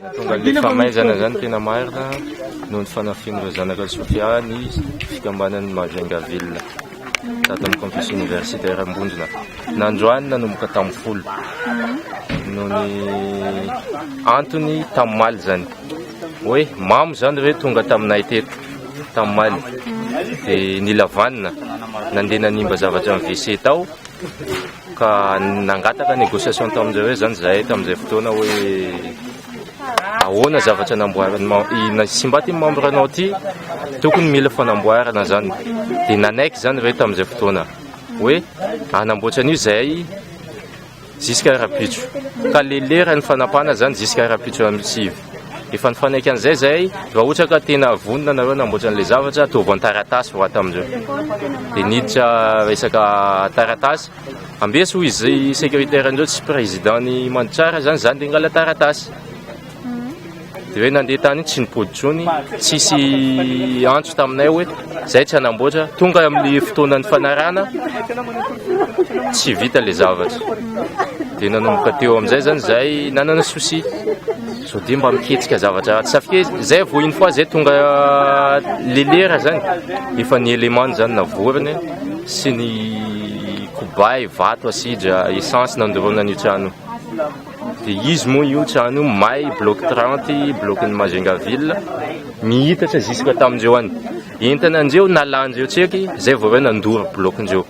Nahatonga an'ilay famaizana izany tena marina noho ny fanafihan'ireo zanaka Sofia ny fikambanan'ny Majunga Ville tato amin'ny Campus Universitaire Ambondrona. Nandroany nanomboka tamin'ny folo noho ny antony tamin'ny maly izany. Hoe mamo izany ireo tonga taminay teto tamin'ny maly dia nilavanina nandeha nanimba zavatra amin'ny WC tao Ka nangataka négociation tamin'izay hoe izany izahay tamin'izay fotoana hoe ahoana zavatra namboarin'ny mem- i- Simba ty membre anao ty tokony mila fanamboarana izany dia nanaiky izany ireo tamin'izay fotoana hoe hanamboatra an'io izahay jusqu'à rahampitso ka le leran'ny fanapahana izany jusqu'à rahampitso amin'ny sivy Efa nifanaiky an'izay izay, raha ohatra ka tena vonona nareo hanamboatra an'ilay zavatra, ataovy an-taratasy vao ato amin'ireo. Dia niditra resaka taratasy, ambeso hoy izy secrétaire an'ireo tsy président ny Mandritsara izany izany dia hangala taratasy. Dia hoe nandeha tany tsy nipody intsony, tsisy antso taminay hoe. Zay tsy hanamboatra, tonga amin'ny fotoanan'ny fanarahana tsy vita le zavatra. Dia nanomboka teo amin'izay zany zay nanana souci. Sao dia mba miketsika zavatra tsy safika izy. Zay vao une fois zay tonga le lera zany efa ny élément zany navorony sy ny kobay, vato, asidra, essence nandorona an'io trano io. Dia izy moa io trano io may, bloc trente, bloc-n'i Majunga ville, miitatra jusque tamin-dreo any. Entanandreo, nalandreo tseky, zay vao reo nandoro bloc-ndreo.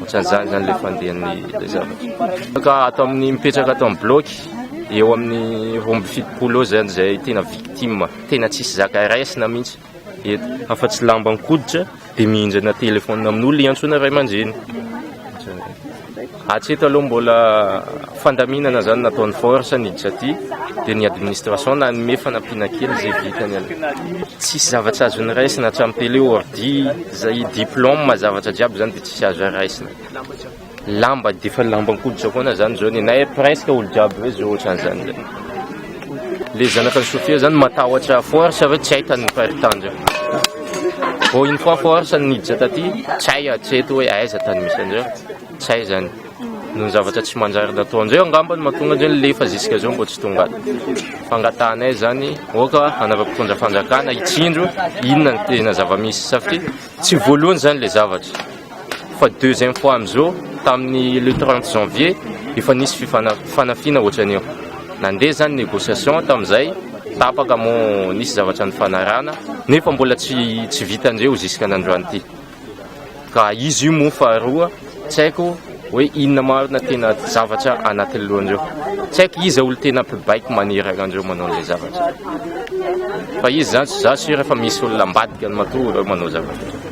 Otran'izany izany ilay fandehan'ny ilay zavatra. Ka ato amin'ny mipetraka ato amin'ny bloc, eo amin'ny roa amby fitopolo eo izany izay tena victime, tena tsisy zaka raisina mihitsy. eto afa tsy lamba ankoditra de mihinjana téléphone amin'olo iantsoana ray aman-dreny atsy eto aloha mbola fandaminana zany nataon'ny force ny hiditra aty de ny administration nanome fanampiana kely zay vitany aloha tsisy zavatra azo niraisina hatramin'ny télé ordi zay diplôme zavatra jiaby zany de tsisy azo araisina Lamba dia efa lamban-koditsakoana zany zao ny anay presque olo jiaby hoe zao ohatrany zany le le zanaka an'i Sofia zany matahotra force hoe tsy hay tany ny faritany zao vao une fois force ny niditra taty tsy hay hatreto hoe aiza tany misy an'zao tsy hay zany noho ny zavatra tsy manjary nataon'zay angamba no mahatonga an'zay ny lefa jusque zao mbo tsy tonga fangatahanay zany oka anaovako mpitondra fanjakana hitsindro inona ny tena zava-misy satria Tsy voalohany zany le zavatra fa deuxième fois amzao tamin'ny le trente janvier efa nisy fifanafina otran'io nandeha zany négociation tamzay tapaka mo nisy zavatra nifanarahana nefa mbola tsy tsy vita ndreo zisk'an'androany ty ka izy io mo faharoa Tsy haiko hoe inona marina tena zavatra anatin'ny lohan'ireo. Tsy haiko iza olo tena mpibaiko maniry an'ireo manao an'ilay zavatra. Fa izy zany, za sure fa misy olona ambadikany matoa ireo manao zavatra ireo.